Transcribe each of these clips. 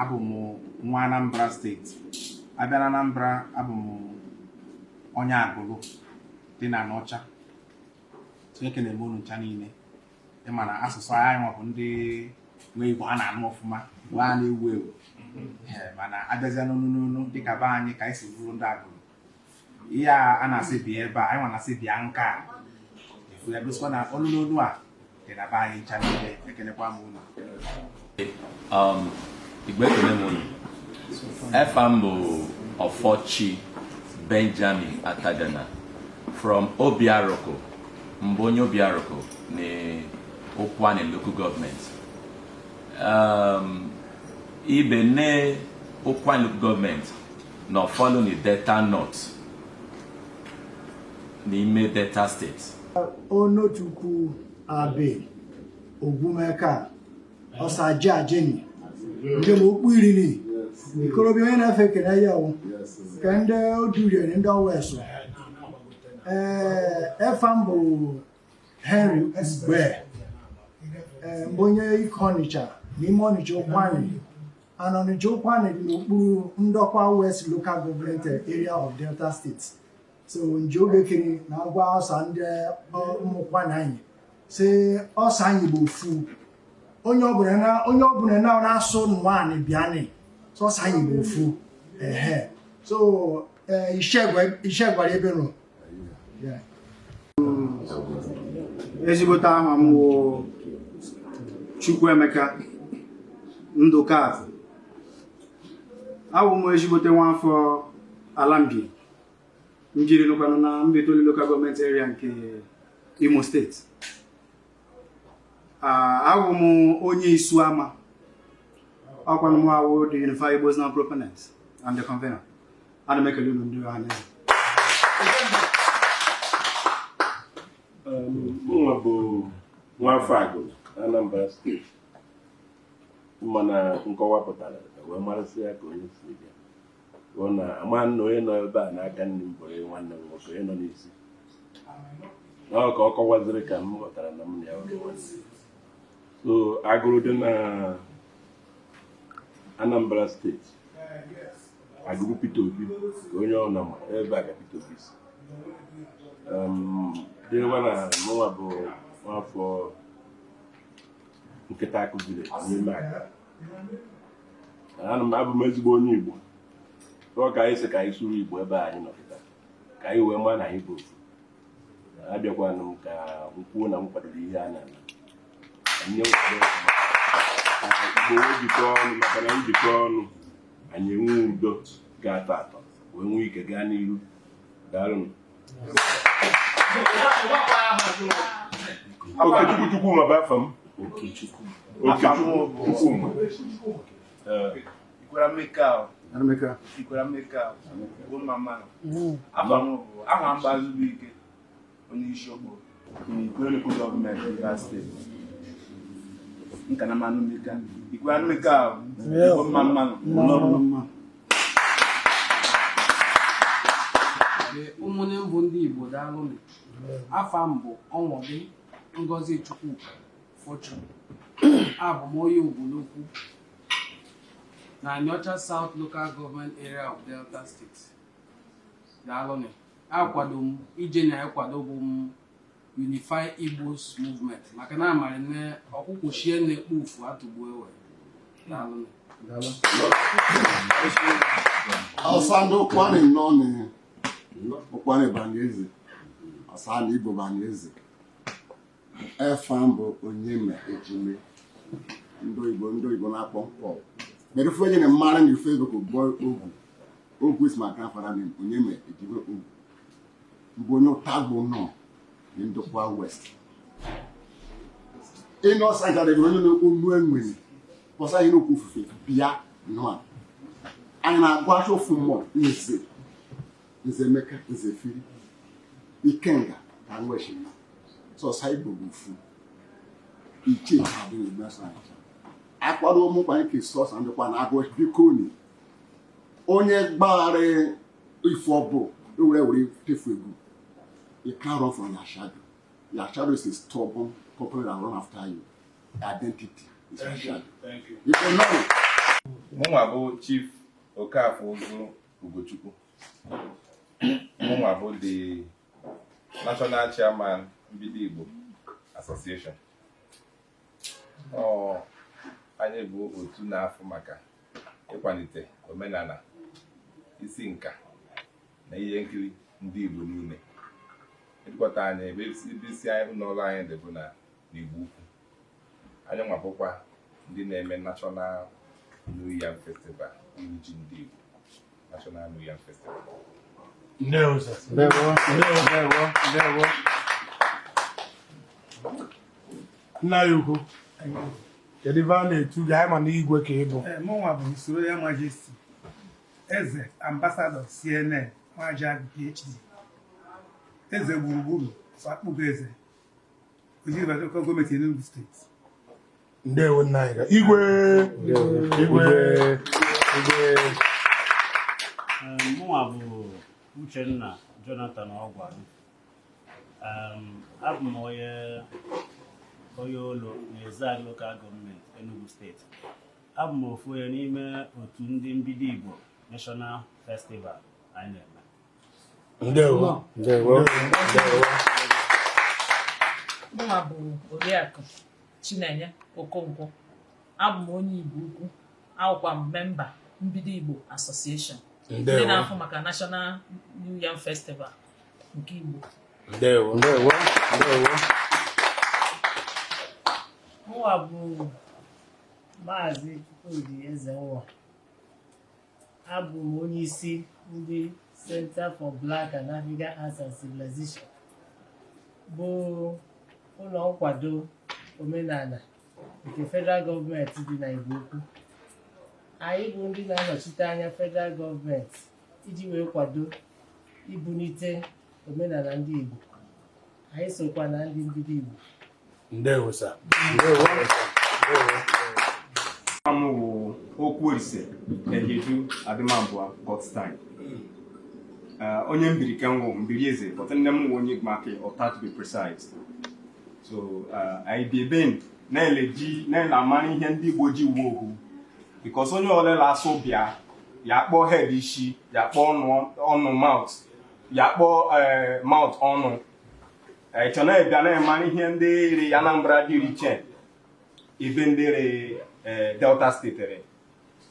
abụ m nwa Anambra steeti a bịa na Anambra abụ m onye Agụlụ dị na Anaọcha ekene m unu ncha niile ị ma na asụsụ anyị nwa bụ ndị nwe Igbo a na-anụ ọfụma bụ a na-ewu ewu mana a bịazịa n'onu n'onu dịka be anyị ka anyị si bụrụ ndị Agụlụ ihe a na-asị bịa ebe a anyị nwa na-asị bịa nka a efu ya gosikwa na olu n'olu a dị na be anyị ncha niile ekelekwa m unu um, Igbo ekele m unu efa m bụ Ọfọchi Benjamin Atagana from Obiaruku m bụ onye Obiaruku na Ụkwụanị local gọọmenti um, ibe ne Ụkwụanị local gọọmenti na ọ fall under Delta North n'ime Delta steeti Onotu Ukwu Abe Ogwumeka Osaji Ajeni ndị m okpu iriri ikorobịa onye na efa ekele ya o nke ndị oduriere ndị Owesu ee efa m bụ Henry Ugbe ee m bụ onye Ike Ọnịcha n'ime Ọnịcha Ụkwụanị and Ọnịcha Ụkwụanị dị n'okpuru Ndọkwa West Local Government Area of Delta State so nji obekiri na-agwa ọsa ndị ụmụ Ụkwụanị anyị sị ọsa anyị bụ ofu onye ọbụla na onye ọbụla na na-asụ nụanị bịanị so ọsa anyị bụ ofu ehe so ishegwara ebe nọ ezigbote aha m wụ Chukwuemeka Ndụkazị awụ m ezigbote nwaafọ Alambi njiri nụkwanụ na Mbaitoli lokal gọọmenti area nke Imo steeti awụ m onye Isuama ọkwanụ m awụ the Unified Igbos Now proponent and the convener ana m ekele unu ndị ọha na eze mụnwa bụ nwafọ Agụlụ Anambra steeti mana nkọwa pụtara wee marasị ya ka onye si bịa bụ na a ma na onye nọ ebe a n'aka nni m bụrụ nwanne m nwoke onye nọ n'isi na ọ ka ọ kọwaziri ka m ghọtara na m na ya bụ nwanne so Agụlụ dị na Anambra steeti Agụlụ Peter Obi ka onye ọ na ebe a ka Peter Obi si dịrịwa na mụnwa bụ nwafọ Nkịtakụ ziri n'ime aka ana m abụ m ezigbo onye Igbo ọ ka anyị sị ka anyị sụrụ Igbo ebe anyị nọ kịta ka anyị wee maa na anyị bụ ofu abịakwanụ m ka m kwuo na m kwadoro ihe a na-eme Igbo wee jikọ ọnụ maka na njikọ ọnụ anyị enwe udo ga-atọ atọ wee nwee ike gaa n'iru daalụ Okechukwu Chukwuma bụ afa m Okechukwu Chukwuma Ikwerre meka o anụ meka. Ikwerre meka o ahụ bụ mma mma nụ afa m bụ aha m bụ Azụbụike onye Isiokpo ụmụnne m bụ ndị Igbo daalụ afa m bụ Ọnwọdị Ngozichukwu Fortune abụ m onye Ubulu-Ukwu na Aniocha South Local Government Area of Delta State daalụnụ akwado m ije na-akwado bụ m Unify Igbos Movement maka na amarị na ọkwụkwụchie na-ekpo ufu atụgbu ewe daalụ ọsa ndị Ụkwụanị nọ n'Ụkwụanị banye eze, ọsa ndị Igbo banye eze. efa m bụ Onyeme Ejime ndị oyibo na-akpọ nkọ mere ofe onye na-amara na Facebook bụ Ogwu Ogwu is my grandfather name Onyeme Ejime Ogwu m bụ onye Utagba-Ụnọ na Ndokwa West ịnụ ọsa gadịgị onye na-ekwu onu enwere kpọsa ihe n'okwu ofufe bịa nọ a. anyị na-agwa acha ofu mmụọ n'ezi Nze Emeka nze firi ikenga ka nwechi ma sọsa Igbo bụ ofu iche adịghị n'Igbo anyị akwado ụmụkwa nke sọsa Ndokwa na-agụ biko nị onye gbaghara ife ọ bụ ewere were tefu egwu you can't run from your shadow your shadow is a stubborn companion that run after you identity is your shadow you go know mụnwa bụ Chief Okafọ Ụzụ Ugochukwu mụnwa bụ the national chairman Mbido Igbo Association anyị bụ otu na-afụ maka ịkwanite omenana isi nka na ihe nkiri ndị Igbo niile headquarter anyị ebe isi ụnọ ọlụ anyị dị bụ na n'Igbo Ukwu anyị nwabụkwa ndị na-eme National New Yam Festival iri ji ndị Igbo National New Yam Festival Ndewo, sir. Ndewo, ndewo, ndewo, ndewo. Nna anyị ukwu, kedu ife a na-etu gị anyị ma na igwe ka ị bụ Ee, mụnwa bụ His Royal Majesty Eze Ambassador CNN Nwajagụ PhD eze gburugburu of Akpụgoeze gọọmenti Enugu steeti ndewo nna anyị igwe igwe igwe mụnwa bụ Uchenna Jonathan Ogwari abụ m onye onye Olo na Ezeagụ lokal gọọmenti Enugu steeti abụ m ofu onye n'ime otu ndị mbido Igbo National Festival anyị na-eme ndewo ndewo ndewo mụnwa bụ oriakụ chinenye okonkwo abụ m onye igbo ukwu awụkwa m memba mbido igbo association ndị na-afụ maka national new yam festival nke igbo ndewo ndewo ndewo Mụwa bụ Maazị Chukwudi Ezenwa. abụ m onye isi ndị Centre for Black and African Arts and Civilization bụ ụnọ nkwado omenana nke federal gọọmenti dị na Igbo Ukwu anyị bụ ndị na-anọchite anya federal gọọmenti iji wee kwado ibunite omenana ndị Igbo anyị sokwa na ndị mbido Igbo ndewo sa ndewo m wụ Okwuolise Ehiedu Adịmabụa Godstime onye mbiri ke nwọ mbiri eze but nne m wụ onye Igbanke Ọta to be precise so anyị bi ebe na-ele ji na-ele amara ihe ndị igbo ji wụ ohu because onye ọwụle la-asụ bịa ya kpọọ head isi ya kpọọ ọnụ mouth ya kpọọ mouth ọnụ ị chọ na-ebịa na-emara ihe ndị rị Anambra dị iche ebe ndị rị Delta steeti rị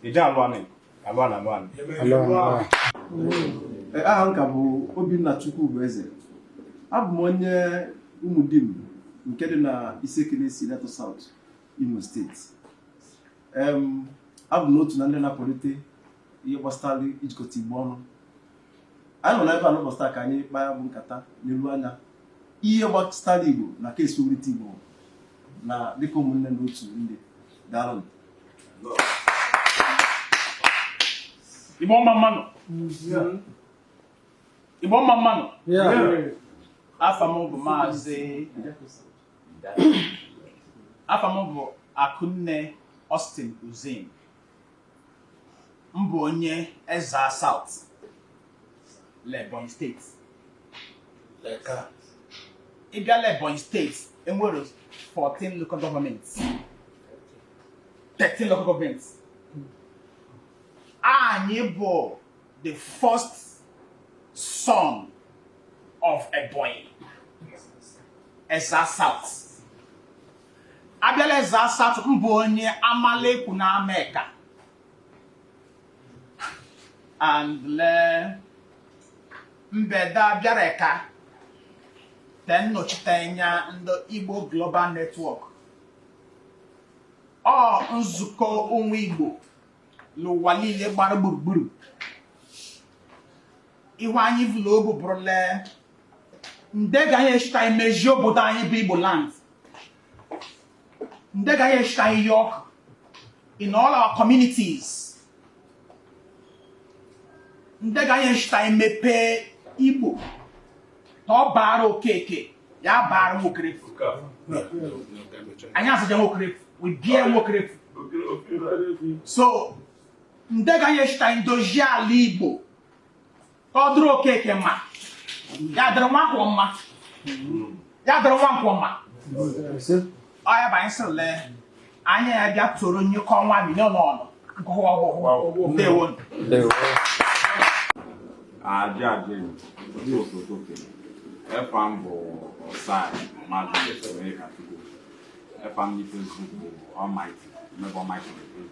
ije alụanị alụanị alụanị aha m ka bụ Obinna Chukwubueze abụ m onye Umudim nke dị na Isiekenesi Ideato South Imo steeti abụ m otu na ndị na-akwalite ihe gbasara ijikọta igbo ọnụ anyị nọ n'ebe a n'ụbọchị taa ka anyị kpaa bụ nkata n'elu anya ihe gbasara igbo na ka esi wulite igbo na dịka ụmụnne na otu ndị daalụ igbo mma mmanụ igbo mma mmanụ afa m bụ maazị afa m bụ akụnne Austin Uzim m bụ onye Ezza South Ebonyi steeti ị bịala Ebonyi steeti enwere 14 local government 13 local government anyị bụ the first son of Ebonyi Ezza South abịala Ezza South m bụ onye Amalekwu na Ameka and lee mbeda bịara ka te nnọchiteanya ndị igbo global network or nzukọ ụnwụ igbo l'ụwa liile gbara gburugburu ihe anyị vu l'obu bụrụ le nde ga anyị eshita anyị mezie obodo anyị bụ igbo land nde ga anyị eshita anyị ihe ọkụ in all our communities nde ga anyị eshita anyị mepee igbo na ọ baara okeke ya baara nwokerefu anyị asaja nwokerefu we bie nwokerefu so nde ga anyị eshita anyị dozie ala igbo ka ọ dụrụ okeke mma ya dịrị Nwankwọ mma ya dịrị Nwankwọ mma ọ ya bụ anyị sịrị lee anyị ya bịa toro nyekọ nwa milion ọnụ gụwa ọgwụgwụ ndewo Ajị ajị ndị osote okenye efa m bụ Osai Magnus Onyekachukwu efa m na Facebook bụ Almighty mmebe Almighty na Facebook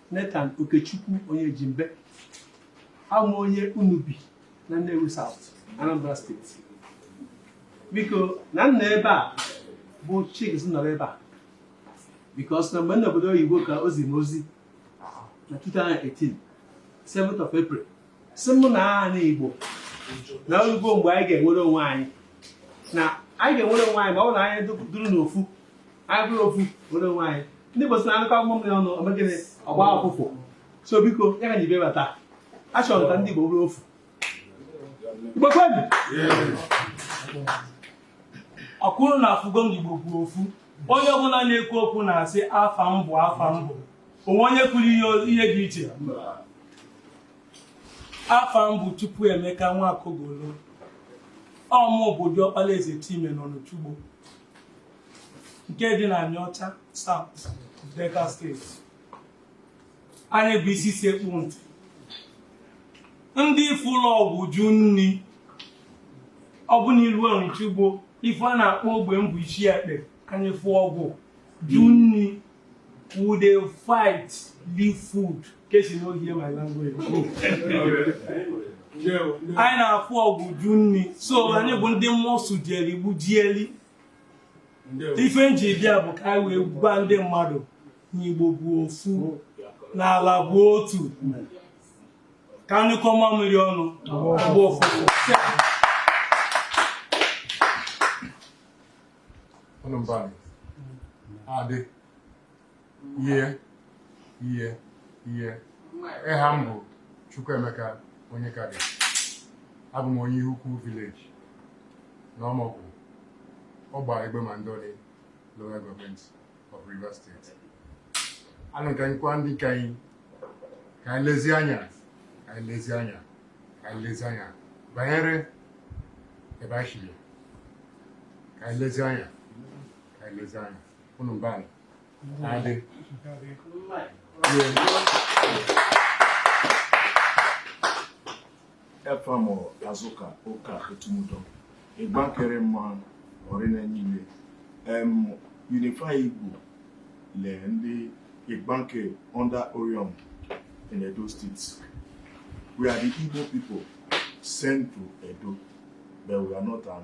Nathan Okechukwu Onyejimbe abụ m onye Unubi na Nnewi South, Anambra steeti biko na m nọ ebe a bụ Chiks nọrọ ebe a because na mgbe m nọ obodo oyibo ka o zi m ozi na 2018 7th of April sị mụ na ana Igbo na olugo mgbe anyị ga-enwere onwe anyị na anyị ga-enwere onwe anyị ma ọ bụ na anyị dụrụ n'ofu anyị bụrụ ofu nwere onwe anyị ndị Igbo sị na anyụkọ agbụgbọ mmiri ọnụ o mee gịnị ọ gba ụfụfụ so biko ya ka nji bịa bata a chọrọ ka ndị Igbo bụrụ ofu Igbo kwenụ o kwuru na afụgo m Igbo bụ ofu onye ọbụla na-ekwu okwu na-asị afa m bụ afa m bụ o nwe onye kwuru ihe dị iche afa m bụ Chukwuemeka Nwakogolo ọ mụ bụ diọkpala Eze Chime nọ n'Ọnịchugbo nke dị na Anịọcha South Delta State anyị bụ isi sekpu ntị ndị fụlụ ọgụ jụ nni ọ bụ n'ilu Ọnịchugbo ife a na-akpọ ogbe m bụ Isiekpe anyị fụ ọgụ jụ nni we dey fight leave food case you no hear my language anyị na-afụ ọgụ jụ nni so anyị bụ ndị mmụọ sụjieli gbujieli ife nji bịa bụ ka anyị wee gwa ndị mmadụ na Igbo bụ ofu na ala bụ otu ka anyụkọ mamịrị ọnụ bụ ofu ihe ihe ihe eha m bụ Chukwuemeka Onyekadị abụ m onye Ihukwu village na Ọmọkụ Ọgba Egbema Ndoni local government of Rivers State anụ ka anyị gwa ndị ka anyị ka anyị lezie anya ka anyị lezie anya ka anyị lezie anya banyere ebe anyị shi bịa ka anyị lezie anya ka anyị lezie anya unu mba adị efa m Azụka Ụka etumudo igbanke rị mma ọ rị na niile em unify igbo le ndị igbanke under orhionmwon in edo state we are the igbo people sent to edo but we are not an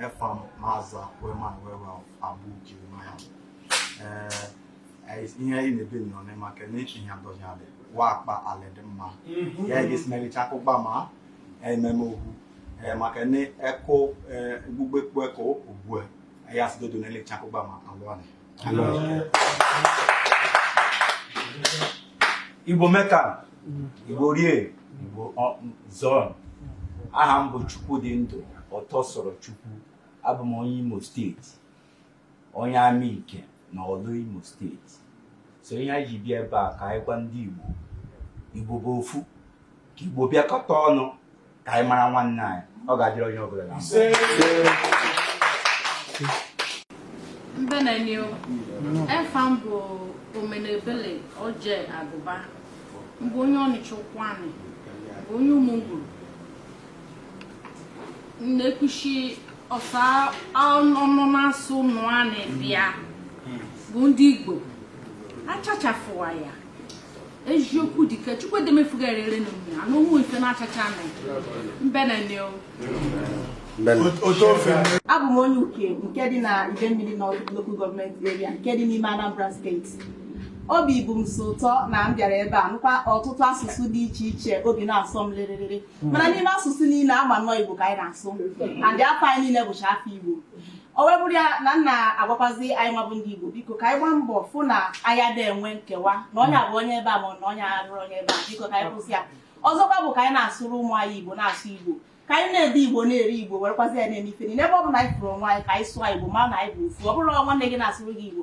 Efa m Maza Weman Wewa Abu Jeremiah. Eh, ihe anyị na-ebe nọ ne maka na echi ihe adọghị alị wa akpa alị dị mma ya ga-esimelicha akụkpa ma ememe okwu Eh, maka na eko eh, gbugbe kpu eko ugbue ya sidodo na-elecha akụkpa ma alụ anị Igbo mekanụ Igbo rie Igbo zuonụ aha m bụ Chukwudindụ Ọtọsọrọchukwu abụ m onye Imo steeti onye Amike na Ọlụ Imo steeti so ihe anyị ji bịa ebe a ka anyị gwa ndị Igbo Igbo bụ ofu ka Igbo bịakọta ọnụ ka anyị mara nwanne anyị ọ ga-adịrị onye ọbụla mma mbene ni o efa m bụ omenebele oje agụba m bụ onye ọnịcha ụkwụanị bụ onye ụmụngwuru na-ekwuchi ọsa ọnụ na-asụ nụa na-ebịa bụ ndị igbo achachafụwa ya eziokwu dike chukwuedemefuga erere na mmiri anụ ụmụ ife na-achacha na mbene ni o abụ m onye uke nke dị na idemili North Local Government Area nke dị n'ime Anambra steeti obi bụ m sọ ụtọ na m bịara ebe a nụkwa ọtụtụ asụsụ dị iche iche obi na-asọ m lịrịrịrị mana n'ime asụsụ niine ama nnọọ igbo ka anyị na-asụ and afa anyị niine bụcha afa igbo o wee bụrụ ya na m na-agwakwazi anyị nwa bụ ndị igbo biko ka anyị gbaa mbọ fụ na anyị ada enwe nkewa na onye a bụ onye ebe a ma na onye a bụrụ onye ebe a biko ka anyị kwụsị ya ọzọkwa bụ ka anyị na-asụrụ ụmụ anyị igbo na-asụ igbo ka anyị na-ede igbo na-eri igbo werekwazi ya na-eme ife niine ebe ọ bụna anyị fụrụ onwe anyị ka anyị sụọ igbo ma na anyị bụ ofu ọ bụrụ na nwanne gị na-asụrụ gị igbo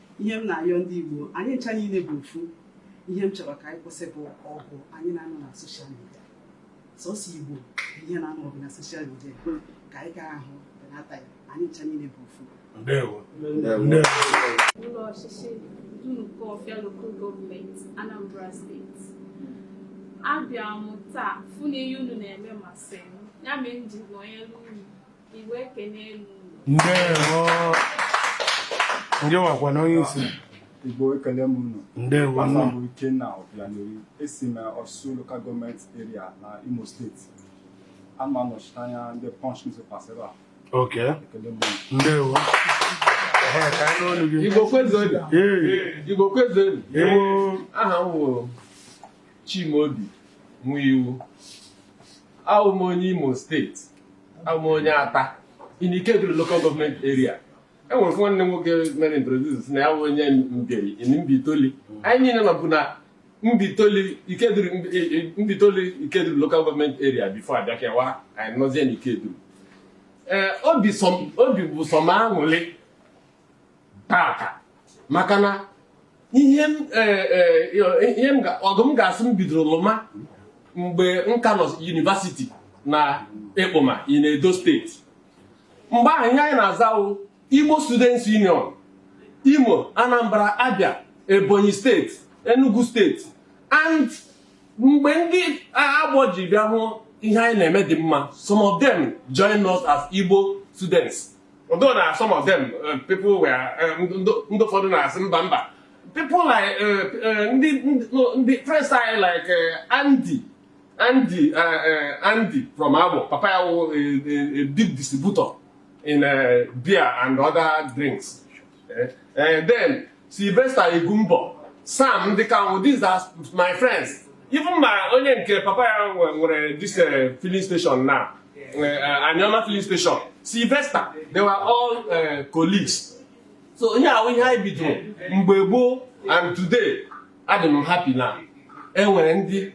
ihe m na-ayọ ndị Igbo anyị ncha niile bụ ofu ihe m chọrọ ka anyị kwụsị bụ ọgụ anyị na-anụ na soshal midia sọsọ Igbo ihe na-anụ ọgụ na soshal midia ka anyị gaa ahụ benata ya anyị ncha niile bụ ofu ụlọ ọchịchị Dunukọfịa Local Government Anambra Steeti abịa m taa fụ na ihe unu na-eme masị m ya mere m ji nọnyere unu ndị wakwa na onye isi Igbo ekele m unu ndewo afa m bụ Ikenna Obianeri esi m Orsu local government area na Imo steeti ana m anọchite anya ndị Punch newspapers ebe a ok ekele m unu ndewo Igbo kwezuenu Igbo kwezuenu aha m wụ Chimaobi Nwaiwu awụ m onye Imo steeti abụ m onye Atta in Ikeduru local government area e nwere nwanne m nwoke mere introduce na ya bụ onye Mbieri in Mbaitoli anyị niile nọbụ na Mbaitoli Ikeduru Mbaitoli Ikeduru local government area before a bịa kewaa anyị nọzie na Ikeduru ee obi bụ sọ m aṅụlị tata maka na ihe e, e, e, ọgụ m ga-asị m bidoro lụma mgbe m ka nọ university na ekpoma in edo steeti mgbe ahụ ihe anyị na-aza wụ igbo students union imo anambra abia ebonyi steeti enugu steeti and mgbe ndị agbọ ji bịa hụ ihe anyị na-eme dị mma some of them join us as igbo students although na some of them uh, people were uh, ndị ụfọdụ na-asị mba mba people like uh, uh, ndị ndị friends anyị like uh, Andy Andy uh, uh, Andy from Abo papa ya wụ a, a, a big distributor in uh, beer and other drinks uh, uh, then Sylvester Egumbọ Sam ndị Kanwụ these are my friends even ma onye nke papa ya nwere this uh, filling station na uh, uh, Anioma filling station Sylvester they were all colleagues so ihe ahụ ihe anyị bidoro mgbe gboo and today adị m happy na e nwere ndị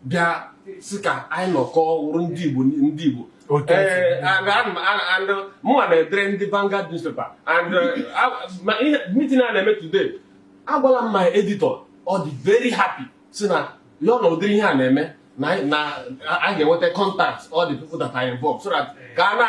bịa sị ka anyị nọkọ wụrụ ndị Igbo ndị Igbo Otu esi Ee, dị. and ana m- ana- and mụnwa na-edere ndị Vanguard newspaper and uh, a- ma ihe meeting a na-eme today agwala m my editor ọ dị very happy sị na ya na ụdịrị ihe a na-eme na anyị- na a a ga-enweta contact all the people that are involved so that ka a na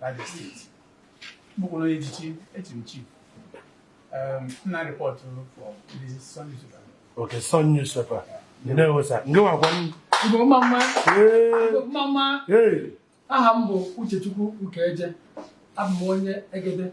Abia steeti m bụkwa onye echichi echi m chief Um, m na-report for ndị Sun newspaper. okay Sun newspaper ndewo sa ndewokwanụ Igbo mma mma Ee, Igbo mma mma ee, aha m bụ Uchechukwu Ukeje abụ m onye Egede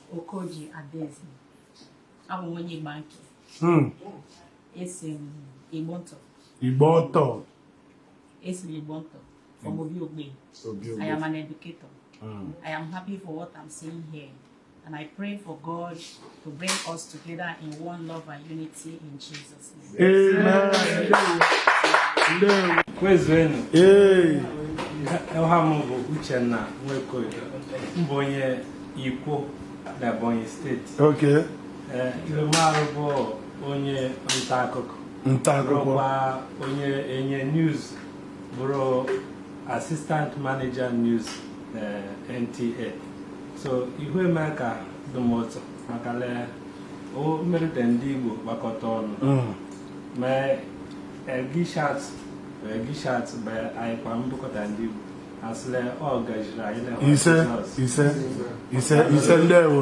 Okoji Adaeze abụ m onye Igbanke hmm. esi m Igbontọ Igbontọ esi m Igbontọ from Obi Ogbe I am an educator hmm. I am happy for what I'm seeing here and I pray for God to bring us together in one love and unity in Jesus kwezuenu aha m bụ Uchenna Nwekoye m bụ onye Ikwo na Ebonyi steeti ihe m arụ bụ onye nta akụkọ bụrụkwa onye enye news bụrụ assistant manager news na NTA so ihu eme ka dụ m ụtọ maka le o mere te ndị Igbo gbakọta ọnụ mm. ma egishat egishat bụ anyị kwa mbụkọta ndị Igbo a sị le ọ gajiri anyị na ise ise ise ise ndewo